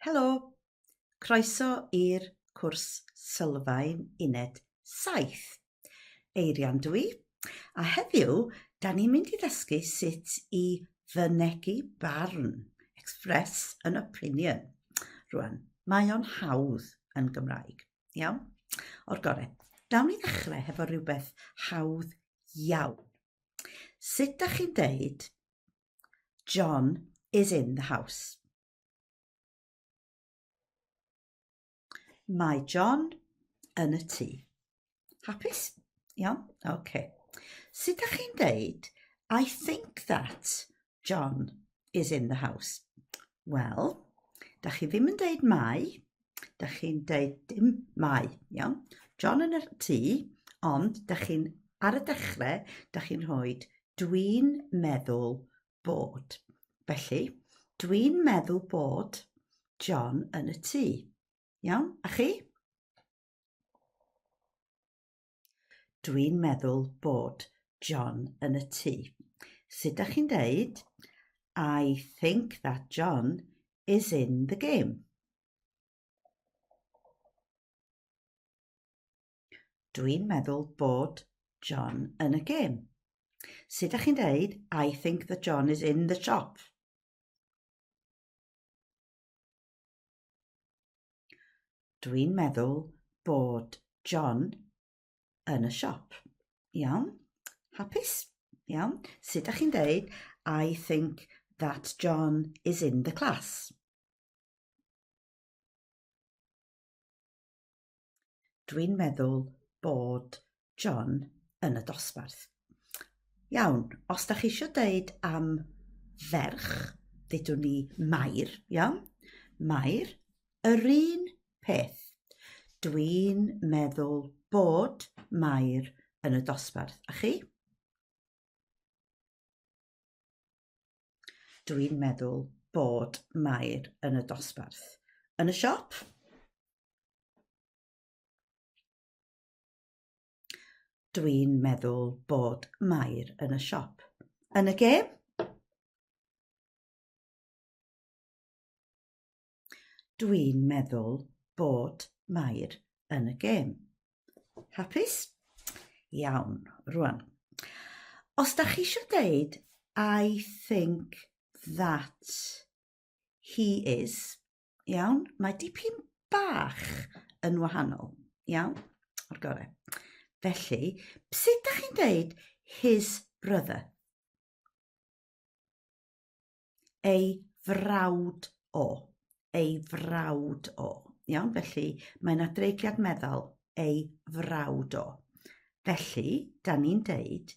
Helo, croeso i'r cwrs sylfaen uned 7. Eirian dw i, a heddiw da ni'n mynd i ddysgu sut i fynegu barn, express an opinion. Rwan, mae o'n hawdd yn Gymraeg, iawn? O'r gore, dawn ni ddechrau hefo rhywbeth hawdd iawn. Sut da chi'n deud John is in the house. Mae John yn y tŷ. Hapus? Iawn? Oce. Okay. Sut da chi'n deud, I think that John is in the house? Wel, da chi ddim yn deud mai, Da chi'n deud dim mai, iawn. John yn y tŷ, ond da chi'n ar y dechrau, da chi'n rhoi dwi'n meddwl bod. Felly, dwi'n meddwl bod John yn y tŷ. Iawn, a chi? Dwi'n meddwl bod John yn y tŷ. Sut da chi'n deud? I think that John is in the game. Dwi'n meddwl bod John yn y gêm. Sut da chi'n deud, I think that John is in the shop? Dwi'n meddwl bod John yn y siop. Iawn? Hapus? Iawn? Sut ydych chi'n dweud, I think that John is in the class. Dwi'n meddwl bod John yn y dosbarth. Iawn, os da chi eisiau dweud am ferch, ddydwn ni Mair, iawn? Mair, yr un peth. Dwi'n meddwl bod Mair yn y dosbarth. A chi? Dwi'n meddwl bod Mair yn y dosbarth. Yn y siop? Dwi'n meddwl bod Mair yn y siop. Yn y gêm? Dwi'n meddwl bod Mair yn y gêm. Hapus? Iawn, rwan. Os da chi eisiau deud, I think that he is, iawn, mae dipyn bach yn wahanol, iawn, o'r gorau. Felly, sut da chi'n deud his brother? ei frawd o, ei frawd o. Iawn, felly mae yna dreigliad meddal ei frawd o. Felly, da ni'n deud,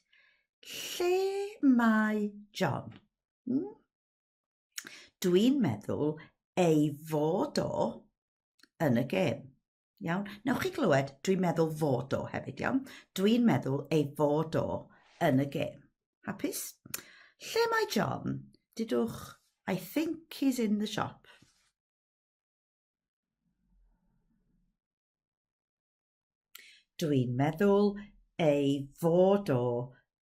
lle mae John? Hmm? Dwi'n meddwl ei fod o yn y gêm. Iawn? Newch chi glywed, dwi'n meddwl fod o hefyd, iawn? Dwi'n meddwl ei fod o yn y gêm. Hapus? Lle mae John? Didwch, I think he's in the shop. Dwi'n meddwl ei fod o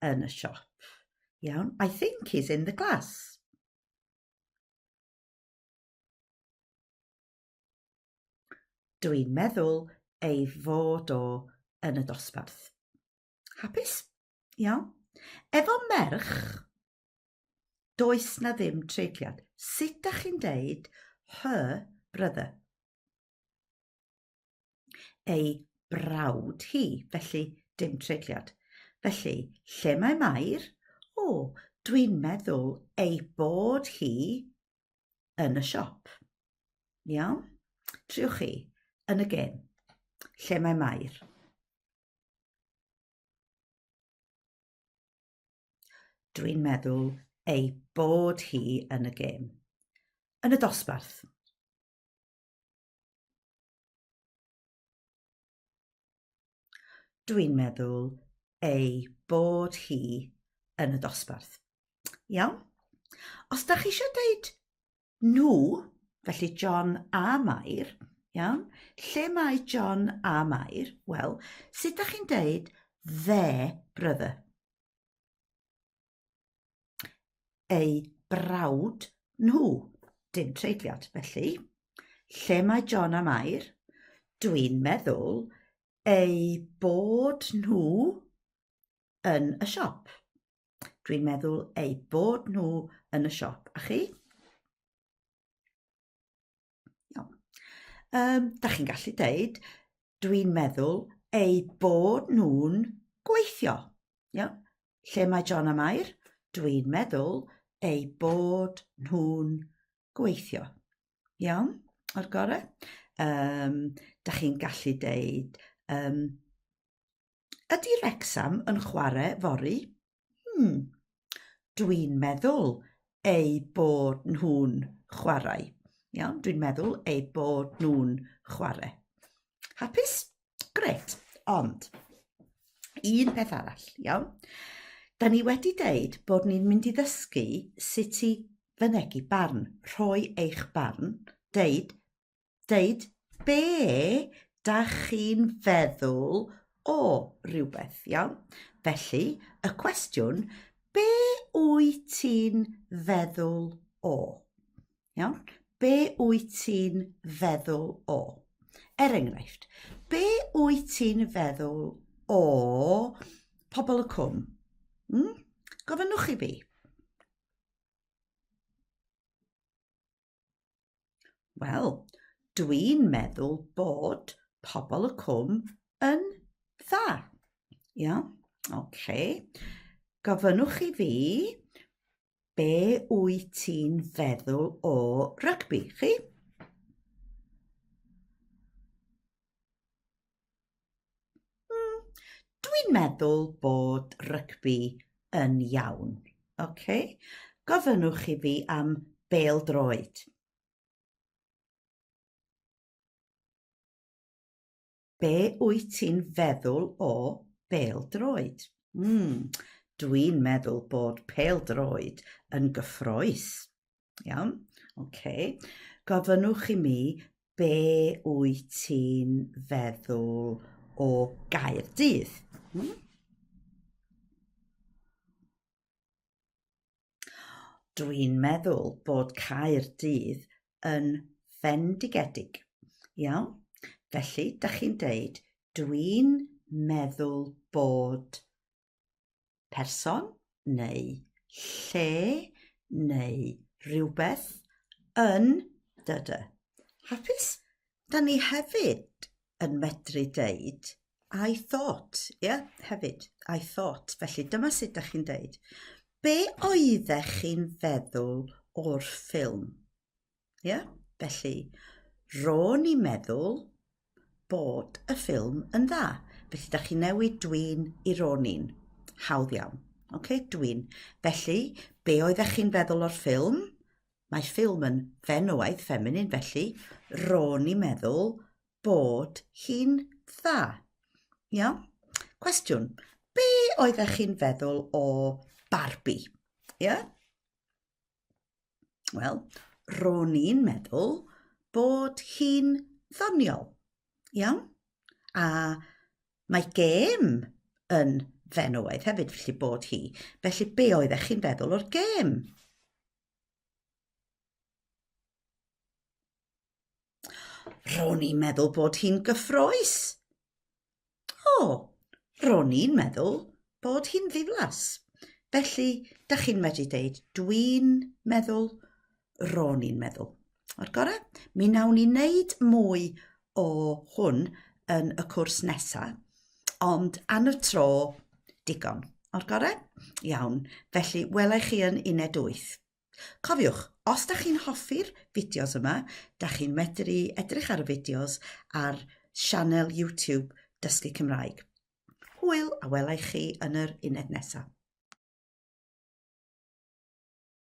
yn y siop. Iawn, I think he's in the class. Dwi'n meddwl ei fod o yn y dosbarth. Hapus? Iawn. Efo merch, does na ddim treigliad. Sut da chi'n deud her brother? Ei brawd hi, felly dim treigliad. Felly, lle mae Mair? O, dwi'n meddwl ei bod hi yn y siop. Iawn? Triwch chi yn y gêm. Lle mae Mair? Dwi'n meddwl ei bod hi yn y gêm. Yn y dosbarth. Dwi'n meddwl ei bod hi yn y dosbarth. Iawn? Os da chi eisiau dweud nhw, felly John a Mair, iawn? Lle mae John a Mair? Wel, sut da chi'n dweud their brother? eu brawd nhw. Dim treigliad, felly. Lle mae John a Mair? Dwi'n meddwl eu bod nhw yn y siop. Dwi'n meddwl eu bod nhw yn y siop. A chi? Iawn. Um, da chi'n gallu deud, dwi'n meddwl eu bod nhw'n gweithio. Iawn. Lle mae John a Mair? Dwi'n meddwl eu bod nhw'n gweithio. Iawn, o'r gorau. Um, da chi'n gallu deud, um, ydy Rexham yn chwarae fori? Hmm, dwi'n meddwl eu bod nhw'n chwarae. Iawn, dwi'n meddwl eu bod nhw'n chwarae. Hapus? Gret. Ond, un peth arall, iawn? Da ni wedi deud bod ni'n mynd i ddysgu sut i fynegi barn, rhoi eich barn, deud deud be da chi'n feddwl o rhywbeth, iawn? Felly, y cwestiwn, be wyt ti'n feddwl o? Iawn? Be wyt ti'n feddwl o? Er enghraifft, be wyt ti'n feddwl o pobl y cwm? Hmm? Gofynnwch i fi. Wel, dwi'n meddwl bod pobl y cwm yn dda. Ia? Oce. Gofynnwch i fi be wyt ti'n feddwl o rygbi, chi? Mm, dwi'n meddwl bod rygbi yn iawn. Okay? Gofynnwch i fi am bel droed. Be wyt ti'n feddwl o bel droed? Mm, dwi'n meddwl bod pel droed yn gyffroes. Iawn? OK. Gofynnwch i mi be wyt ti'n feddwl o gair dydd. Hmm? Dwi'n meddwl bod cair dydd yn fendigedig. Iawn? Felly, da chi'n deud, dwi'n meddwl bod person neu lle neu rhywbeth yn dy dy. Hapus? Da ni hefyd yn medru deud I thought, ie, yeah, hefyd, I thought. Felly dyma sut da chi'n deud. Be oeddech chi'n feddwl o'r ffilm? Ie? Felly, ro'n i'n meddwl bod y ffilm yn dda. Felly, da chi newid dwi'n i ro'n i'n. Hawdd iawn. Okay, dwi'n. Felly, be oeddech chi'n feddwl o'r ffilm? Mae ffilm yn fenywaidd, feminin, felly ro'n i'n meddwl bod hi'n dda. Ia? Cwestiwn, be oeddech chi'n feddwl o Barbie? Ia? Wel, ro'n i'n meddwl bod hi'n ddoniol. Iawn? A mae gêm yn fenywaidd hefyd, felly bod hi. Felly be oeddech chi'n feddwl o'r gêm? Ro'n i'n meddwl bod hi'n gyffroes. O, ro'n i'n meddwl bod hi'n ddiflas. Felly, da chi'n medru deud, dwi'n meddwl, ro'n i'n meddwl. O'r gorau, mi nawn ni wneud mwy o hwn yn y cwrs nesaf, ond am y tro, digon. O'r gorau? Iawn. Felly, welai chi yn uned 8. Cofiwch, os da chi'n hoffi'r fideos yma, da chi'n medru edrych ar y fideos ar sianel YouTube Dysgu Cymraeg. Hwyl a welai chi yn yr uned nesaf.